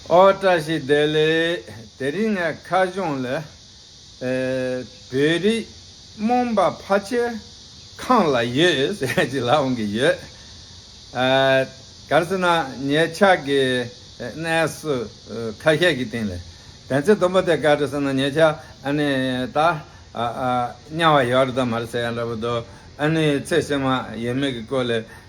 ཨོ་བཀྲ་ཤིས་བདེ་ལེགས། དེ་རིང་ངས་ཁ་གཞུང་ལས། བོད་རིགས་རྨོངས་པ་ཕ་ཆེ་ཁང་ལ་ཡོད་ཟེར་བ་ཅིག་ལབ་གི་ཡོད། གལ་སྲིད་ན་ངའི་ཕྱག་གི་གནས་སུ་ཁ་ཤས་ཀྱི་སྟེང་ལས། དེ་ཚེ་དུམ་པ་དེ་ག་རེ་ཟེར་ན་ངའི་ཕྱག་ཨ་ནི་ད་དམྱལ་བ་ཡོད་རེད་དམ་མ་རེད་ཟེར་ཡ་འདྲ་བོ་འདུག་ཨ་ནི་ཚེ་བསོད་མ་ཡོད་མེད་ཀྱི་སྐོར་ལས།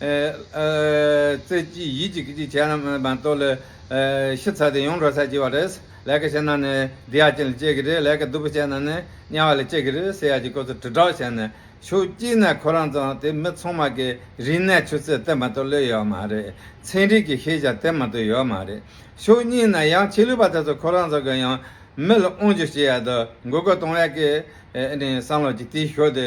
རྩེ་གཅིག་ཡིད་གཅིག་གཅིག་བྱས་རྣམ་པར་རྟོག་ལས། ཤི་ཚར་ཏེ་ཡོངས་གྲོལ་ཚར་གྱི་བ་རེད། ལས་ཀ་བྱས་ན་ནི་འདི་ཡ་ཅན་ལ་སྤྱད་ཀྱི་རེད་ལས་ཀ་སྡུག་པོ་བྱས་ན་ནི་དམྱལ་བ་ལ་སྤྱད་ཀྱི་རེད་ཟེར་ཡ་གྱི་སྐོར་ཚོ་དྲིལ་བསྒྲགས་བྱས་ནས་ཤོག་གཅིག་ནས་ཁོ་རང་ཚོ་དེ་མི་ཚང་མ་གི་རིག་གནས་ཆུ་ཚད་དེ་མ་གཏོགས་བློས་ཡོད་མ་རེད། ཚན་རིག་གི་ཤེས་བྱ་དེ་མ་གཏོགས་ཡོད་མ་རེད། ཤོག་གཉིས་ནས་ཡང་ཆེས་ལུས་པ་དེ་ཚོ་ཁོ་རང་ཚོ་གི་ཡང་མི་ལ་དབང་བསྒྱུར་བྱེད་ཡ་དུ་འགོ་དགོས་གཏོང་ཡ་གི་ནི་བསམ་བློ་གཅིག་དེའི་ཤོག་དེ་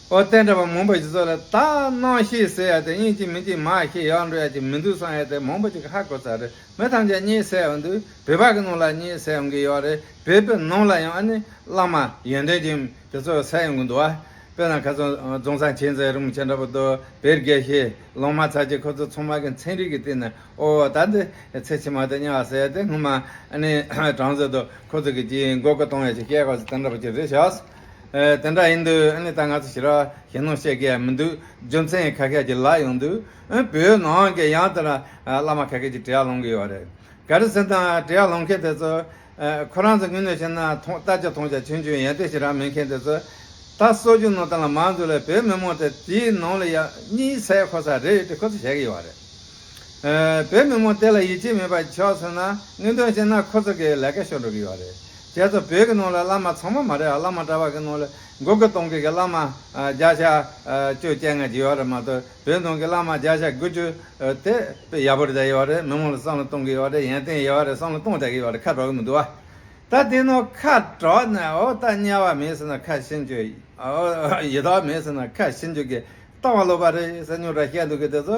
ཨོ་དེ་འདྲ་བ་མང་པོ་ཞིག་ཚོ་ལ་ད་སྣང་ཤེས་ཟེར་ཡ་དེ་གཉིས་གཅིག་མིན་གཅིག་མ་ཤེས་ཡག་འགྲོ་ཡ་གཅིག་མི་འདུག་བསམ་ཡ་དེ་མང་པོ་ཅིག་ཧ་གོ་ས་རེད་མི་ཐམས་ཅད་གཉིད་སད་འོང་དུས་བོད་པ་གི་ནང་ལ་གཉིད་སད་འོང་གི་ཡོག་རེད་བོད་པའི་ནང་ལ་ཡང་ཨ་ནི་བླ་མ་ཡོན་ཏན་ཅན་དེ་ཚོ་སད་ཡོང་གི་འདུག་ཨ་བོད་ནང་ཁ་སང་རྫོང་ས་མཁྱེན་བརྩེ་རིན་པོ་ཆེ་འདྲ་བོ་དོ་བེར་དགེ་བཤེས་ལོང་མ་ཚར་གཅིག་ཁོ་ཚོ་ཚང་མ་གི་མཚན་རིག་གི་སྟེང་ནས་ཨོ་ད་འདི་ཚེ་ཕྱི་མ་དེ་གཉའ་བ་ཟེར་ཡ་དེ་སྔོན་མ་ཨ་ནི་གྲངས་བཟོས་འདུག་ཁོ་ཚོ་གི་གཅིག་མགོ་སྐོར་གཏོང་ཡ་ཆེ་སྐད་གོ་ས་དེ་འདྲ་བོ་ཅིག་རེད་ཤག། དེ་འདྲ་ཡིན་དུས་ཨ་ནི་ད་ང་ཚོ་ཞི་ར་ཞེ་ནོ་བཤད་གི་མི་འདུག་རྒྱུ་མཚན་ཁ་ཁད་ཀྱི་ལག་ཡོང་དུས་བོད་ནང་གི་ཡང་དེ་འདྲ་བླ་མ་ཁ་ཁད་ཀྱི་གྲི་ཡག་ལོང་གི་ཡོད་རེད་ག་རེ་ཟེར་དང་གྲི་ཡག་ལོང་མཁན་དེ་ཚོ་ཁོ་རང་ཚོ་དངུལ་གནོད་བྱེད་ན་ཐོང་ལྟ་ཅི་ཐོང་བྱ་ཆུན་ཆུན་ཡན་ཏེ་ཞི་ར་མེད་མཁན་དེ་ཚོ་ད་གསོ་རྒྱུ་ནོར་ད་ལ་མ་འདུག་ལ་བོད་མི་མང་དེ་དེའི་ནང་ལ་ཡག་གཉིས་ཚད་ཁོ་ས་རེད་ཅེས་ཁོ་ཚོ་བཤད་གི་ཡོད་རེད་བོད་མི་མང་དེ་ལ་ཡིད་ཆེས་མེད་པ་ཆགས་སོང་ན་དངུལ་འདོན་བྱེད་ན་ཁོ་ཚོ་གི་ལས་ཀ་ཤོར་འགྲོ་གི་ཡོད་རེད་རྒྱ་ཚ་བོད་ཀྱི་ནང་ལ་བླ་མ་ཚང་མ་མ་རེད་ཨ་བླ་མ་གྲྭ་བ་ཀྱི་ནང་ལ་མགོ་ཀྱི་སྟོང་ཀི་ཀྱི་བླ་མ་བརྒྱ་ཆ་བཅུ་བཅད་ལྔ་བརྒྱུ་བ་རེད་མ་གཏོགས་བོད་ནང་ཀྱི་བླ་མ་བརྒྱ་ཆ་དགུ་བཅུ་དེ་དཔེ་ཡག་པོ་རེ་བྱ་ཡི་བ་རེད་མི་མང་ལ་བསམ་བློ་གཏོང་གི་ཡི་བ་རེད་ཡན་ཏན་ཡི་བ་རེད་བསམ་བློ་གཏོང་བྱ་གི་ཡི་བ་རེད་ཁ་དྲོག་གི་མི་འདུག་བ། ད་དེ་ནང་ཁ་དྲོག་ནས་ཨོ་ད་དམྱལ་བ་མེད་ཟེར་ན་ཁ་ཤི་འགྱོད་ཨོ་ཡི་དྭགས་མེད་ཟེར་ན་ཁ་ཤི་འགྱོད་ཀྱི་ལྟ་བ་ལོག་པ་རེད་ཟེར་སྨྱོ་དྲ་བཤད་འདུག་གི་དེ་ཚོ་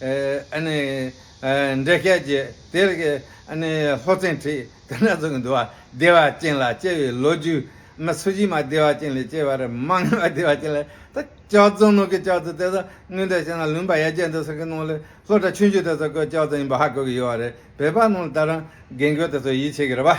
འདྲེ་བརྒྱད་ཀྱིས་དེར་ལྷོ་ཚན་ཁྲིད་དེ་སྣ་ཚོགས་ཀྱི་འདུ་བ་བདེ་བ་ཅན་ལ་སྐྱེ་བའི་ལོ་རྒྱུས། སུ་གཞི་མ་བདེ་བ་ཅན་ལས་སྐྱེ་བར་མ་ངེས་པ་བདེ་བ་ཅན་ལས། ལྕགས་རྫོང་ནོར་གྱི་ལྕགས་རྫི་དེ་དག་དངོས་འདྲེན་བྱས་ན་ལུང་པ་ཡ་བརྒྱད་འདུག་ཟེར་གི་ནང་ལས་ལྷོ་བྲག་ཆུང་ཆུང་དེ་ཚོ་ཀྱི་ལྕགས་རྫི་ཡིན་པ་ཧ་གོ་གི་ཡོད་རེད་བོད་པ་རྣམས་ལ་ད་རང་རྒན་རྒོན་དེ་ཚོ་ཡིད་ཆེས་ཀྱི་རེད་པ།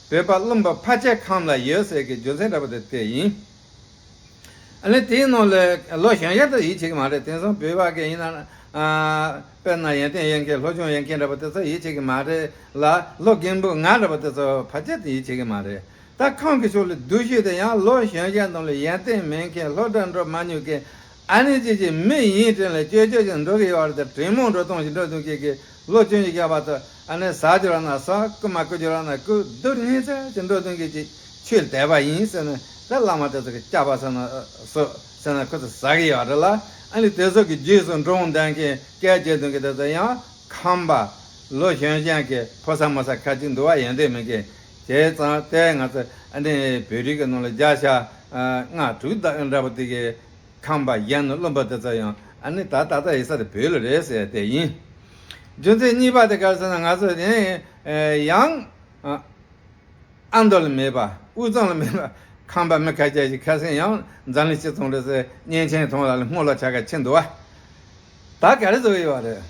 བོད་པ་རློམ་པ་ཕ་ཆད་ཁམས་ལ་ཡོད་ཟེར་གི་རྒྱུ་མཚན་འདྲ་པོ་དེ་དེ་ཡིན། ཨ་ལེ་དེའི་ནང་ལོས་ལོ་གཞོན་ཡག་ཏུ་ཡིད་ཆེས་གི་མ་རེད་དེང་སང་བོད་པ་གི་ཡིན་ན་དཔེར་ན་ཡོན་ཏན་ཡན་གྱི་ལྷོ་ཆུང་ཡན་གྱི་འདྲ་པོ་དེ་ཚོ་ཡིད་ཆེས་གི་མ་རེད་ལ་ལོ་རྒན་བུ་ང་འདྲ་པོ་དེ་ཚོ་ཕ་ཆད་དུ་ཡིད་ཆེས་གི་མ་རེད་ད་ཁམས་གི་ཕྱོགས་ལ་སྡུག་ཤོས་དེ་ཡང་ལོ་གཞོན་ཡག་ནང་ལོས་ཡན་ཏན་མེན་གྱི་ལྷོ་དགྲ་འགྲོ་མ་ཉུག་གི་ཨ་ནི་ཅི་ཞིག་མི་ཡིན་དྲིན་ལ་སྐྱོ་སྐྱོ་ཞིང་འགྲོ་གི་ཡོད་བར་དུ་དྲིན་མོ་འགྲོ་སྟོང་ཞིག་འགྲོ་ཐུག་ཁྱེད་ཀྱི་ལོ་བཅུ་གཉིས་བརྒྱ་བར་དུ་ཨ་ནི་ཟ་རྒྱུ་རག་ན་ཟ་རྐུ་མ་རྐུ་རྒྱུ་རག་ན་རྐུ་རྡུལ་སྙིང་ཚད་ཅིག་འགྲོ་ཐུག་གྱི་ཅིག་ཆུད་དད་པ་ཡིན་ཟེར་ན་ད་བླ་མ་དེ་ཚོ་གི་སྐྱག་པ་ཟེར་ན་ཟོ་ཟེར་ན་ཁོ་ཚོ་ཟ་གི་ཡོད་རེད་ལ་ཨ་ནི་དེ་ཚོ་གི་རྗེས་སུ་འགྲོ་འོང་དན་གི་སྐལ་བརྒྱད་འདུག་གི་དེ་ཚོ་ཡང་ཁམས་པ་ལོ་གཞོན་གཞན་གི་ཕོ་སར་མོ་སར་ཁ་ཅིག་འདུག་བ་ཡོད་འདོད་མི་གི་དེ་ཙང་ལྟས་ང་ཚོ་ཨ་ནི་བོད་རིགས་ཀྱི་ནང་ལ་བརྒྱ་ཆ་ལྔ་དྲུག་འདྲ་པོ་འདུག་གི། ཁང་པ་བཞེངས་ནས་རློམ་པ་དེ་ཚོ་ཡང་ཨ་ནི་ད་ད་ད་ཡིག་ཚ་དེ་བོད་ལོ་རེད་ཟེར་དེ་ཡིན། རྒྱུ་མཚན་གཉིས་པ་དེ་ག་ཟེར་ན་ང་ཚོ་ཡང་ཡང་ཨ་མདོ་ལ་མེད་པ་དབུས་གཙང་ལ་མེད་པ་ཁང་པ་མི་ཁ་ཁྱད་ཞིག་ཁ་སེང་ཡང་འཛམ་གླིང་སྤྱི་ཚོགས་འགྲོ་སའི་གཉན་ཆེན་ཐང་ལ་ལ་སྔོ་ལ་ཆ་ག་ཆེ་འདུག་བ། ད་ག་རེ་ཟོ་ཡི་བ་རེད།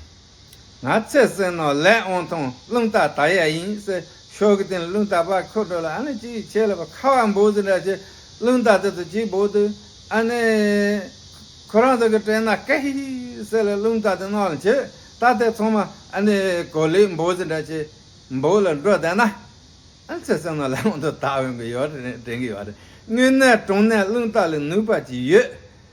ང་ཚེ་བསོད་ནོ་ལས་ཨོང་ཐུང་བླུན་རྟ་ད་ཡ་ཡིན་སེ་ཤོ་གི་དེ་བླུན་རྟ་བ་ཁོ་དྲོ་ལ་ཨ་ནེ་ཅི་ཡི་ཆེ་ལ་བ་ཁ་བ་འབོ་ཟི་འདྲ་ཆེ་བླུན་རྟ་དེ་ཚོ་ཅི་བོ་དུ་ཨ་ནེ་ཁོ་རང་ཚོ་གི་དྲན་ན་ཀེ་ཧི་ཧི་སེ་ལ་བླུན་རྟ་དེ་ནོ་ལ་འཆི་རྟ་དེ་ཚོང་མ་ཨ་ནེ་གོ་ལིས་འབོ་ཟི་འདྲ་ཆེ་འབོ་ལ་འགྲོ་བསྡད་ན་ཨ་ནེ་ཚེ་བསོད་ནོ་ལས་ཨོང་ཐུང་ད་བོན་གི་ཡོ་དྲན་གི་བ་རེད་དངོས་གནས་གྲོང་ནས་བླུན་རྟ་ལས་ནུས་པ་ཅི་ཡོད།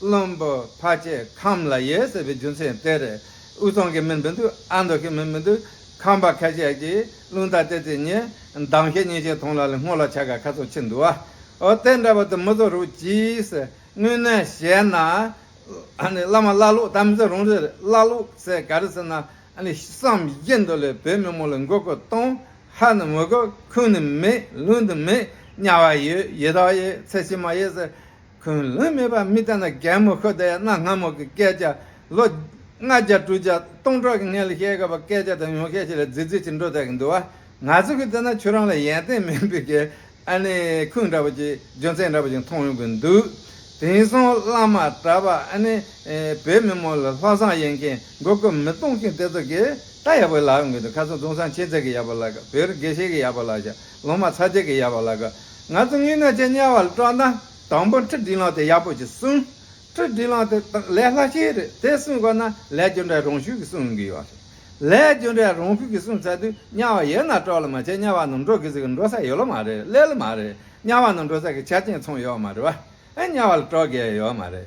བློན་པོ་ཕ་ཅེ་ཁམས་ལ་ཡེ་ཟེར་བའི་རྒྱུ་མཚན་དེར་དབུས་གཙང་གི་མི་འདི་འདུག་ཨ་མདོ་གི་མི་མི་འདུག་ཁམས་པ་ཁ་ཤས་ཀྱིས་བླུན་རྟ་བསྟད་རྩིས་ཉེས་འདང་ཤས་ཉེས་ཤས་ཐོངས་ལ་ལས་སྔོ་ལ་ཆ་ག་ཁ་ཚོགས་ཆེ་འདུག་ཨ་ཨོ་དེ་འདྲ་བ་དེ་མི་ཚོ་རུག་ཅིས་དངོས་གནས་བཤད་ན་ཨ་ནི་བླ་མ་བླ་ལུག་དམ་ཚིག་རུང་རེད་བླ་ལུག་ཟེར་ག་རེ་ཟེར་ན་ཨ་ནི་བསམ་བཞིན་དུ་ལས་བོད་མི་མོ་ལ་མགོ་སྐོར་གཏོང་ཧ་ནི་མི་དགོས་ཁུངས་ནི་མེད་ལུགས་འདི་མེད་དམྱལ་བ་ཡོད་ཡེ་དྭགས་ཡོད་ཚད་ཕྱི་མ་ཡོད་ཟེར་ཁུན་ལུན་མེད་པར་མི་བལྟ་ན་རྒན་མོ་ཤོ་དེས་གནའ་སྔ་མོ་གི་སྐད་ཆ། ལོ། ལྔ་བརྒྱ་དྲུག་བརྒྱ་སྟོང་ཕྲག་གི་སྔའི་ལི་ཤའི་སྐལ་པ་སྐད་ཆ་དང་ཡོང་ཤས་ཤིག་ལ་རྫིག་རྫིག་ཅིག་འགྲོ་བསྡད་ཀྱི་འདུག་ཨ། ང་ཚོ་གིས་བལྟས་ན་ཁྱོད་རང་ལ་ཡན་ཏན་མིན་པའི་གི་ཨ་ནི་ཁུན་འདྲ་བོ་ཅིག་རྒྱུ་མཚན་འདྲ་བོ་ཅིག་མཐོང་ཡོང་གི་འདུག་དེང་སང་བླ་མ་གྲྭ་པ་ཨ་ནི་བོད་མི་མང་ལ་ལྷག་བསམ་ཡོད་མཁན་མགོ་སྐོར་མི་གཏོང་མཁན་དེ་ཚོ་གིས་ད་ཡག་པོ་ལ་ཡོང་གི་འདུག་ཁ་སང་དུང་སང་ཆེ་ཚད་ཀྱི་ཡག་པོ་ལ་བོད་རིགས་དགེ་བཤེས་ཀྱི་ཡག་པོ་ལ་ཞག་ལོ་མ་ཚ་ཅེ་གི་ཡ་བ་ལ་གི། ང་ཚོ་ངུས་ན་ཅེ་དམྱལ་བ་ལ་སྤྲོ་ན། དང་པོ་ཁྲི་བྲིས་ལང་དེ་ཡག་པོ་ཅིག་གསུང། ཁྲི་བྲིས་ལང་དེ་དང་ལས་ལྷ་ཤེས་རེད་དེ་གསུང་དགོས་ན་ལས་རྒྱུ་འབྲས་རང་ཤུགས་ཀྱི་གསུང་གི་ཡོད་རེད། ལས་རྒྱུ་འབྲས་རང་ཤུགས་ཀྱི་གསུང་ཚར་དུས་དམྱལ་བ་ཡོད་ན་སྤྲོ་ལ་མ་ཅེ་དམྱལ་བ་ནང་འགྲོ་གི་ཟིག་འགྲོ་ས་ཡོད་ལ་མ་རེད་སླེ་ལ་མ་རེད་དམྱལ་བ་ནང་འགྲོ་ས་གི་ཆ་རྐྱེན་ཚང་ཡོད་མ་རེད་བ། དམྱལ་བ་ལ་སྤྲོ་དགོས་ཡོད་མ་རེད།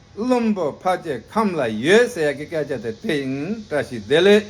བླུན་པོ་ཕ་ཅེ་ཁམས་ལ་ཡོད་ཟེར་ཡག་གི་སྐད་ཆ་དེ་དེ་ཡིན་བཀྲ་ཤིས་བདེ་ལེགས།